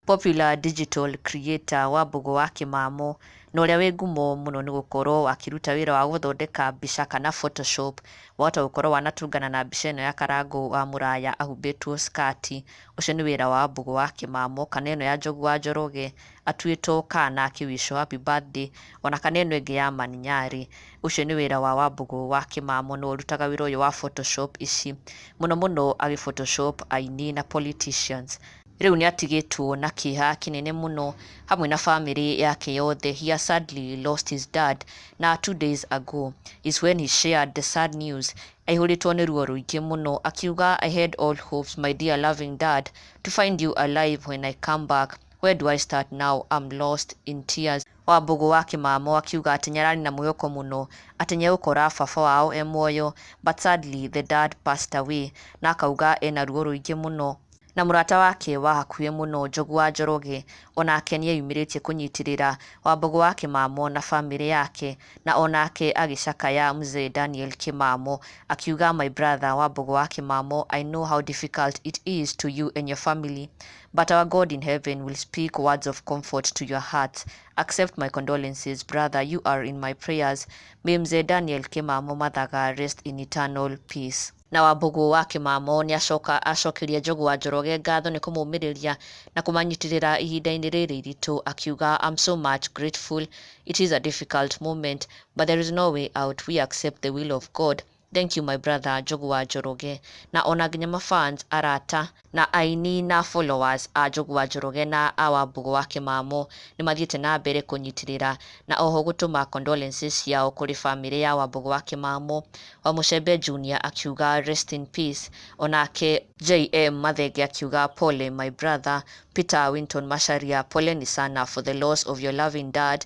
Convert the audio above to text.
popular digital creator wa Mbũgũ wa Kĩmamo na ũrĩa wĩ ngumo mũno nĩ gũkorwo akĩruta wĩra wa gũthondeka mbica kana photoshop, wahota gũkorwo wanatũngana na mbica ĩno ya Karangũ wa Mũraya ahumbĩtwo skati, ũcio nĩ wĩra wa Mbũgũ wa Kĩmamo kana ĩno ya Njogu wa Njoroge. atuĩtwo kaa na akĩ wish o happy birthday ona kana ĩno ĩngĩ ya man nyarĩ ũcio nĩ wĩra wa wambũgũ wa kĩmamo nĩwe ũrutaga wĩra ũyũ wa photoshop ici mũno mũno agĩ photoshop aini na politicians rĩu nĩatigĩtwo na kĩeha kĩnene mũno hamwe na family yake yothe he has sadly lost his dad na two days ago is when he shared the sad news aihũrĩtwo nĩ ruo rũingĩ mũno akiuga I had all hopes my dear loving dad to find you alive when I come back Where do I start now, I'm lost, in tears. Wambugu wa kimamo akiuga atĩ nĩararĩ na mwĩhoko mũno atĩ nĩegũkora baba wao e muoyo but sadly the dad passed away na akauga ena ruo rũingĩ mũno. Na mũrata wake wa hakuhĩ mũno Njogu wa Njoroge onake nĩeyumĩrĩtie kũnyitĩrĩra Wambugu wa Kimamo na famĩlĩ yake na onake agĩcakaya Mzee Daniel Kimamo akiuga my brother Wambugu wa Kimamo I know how difficult it is to you and your family But our God in heaven will speak words of comfort to your hearts. Accept my condolences, brother. You are in my prayers. May Mzee Daniel Kimamo Mathaga rest in eternal peace. na wambugu wa kimamo nĩ acoka acokirie njogu wa njoroge ngatho nĩ kũmũmĩrĩria na kũmanyitĩrĩra ihinda-inĩ rĩrĩ iritũ akiuga I'm so much grateful it is a difficult moment but there is no way out we accept the will of God Thank you my brother Njogu wa Njoroge na ona nginya ma fans arata na aini na followers a Njogu wa Njoroge na a Wambugu wa Kimamũ nĩmathiĩte na mbere kũnyitĩrĩra na oho gũtũma condolences ciao kũrĩ famĩlĩ ya Wambugu wa Kimamũ. Wamuchembe Junior akiuga rest in peace onake. JM Mathenge akiuga pole my brother. Peter Winton Macharia Poleni sana for the loss of your loving dad.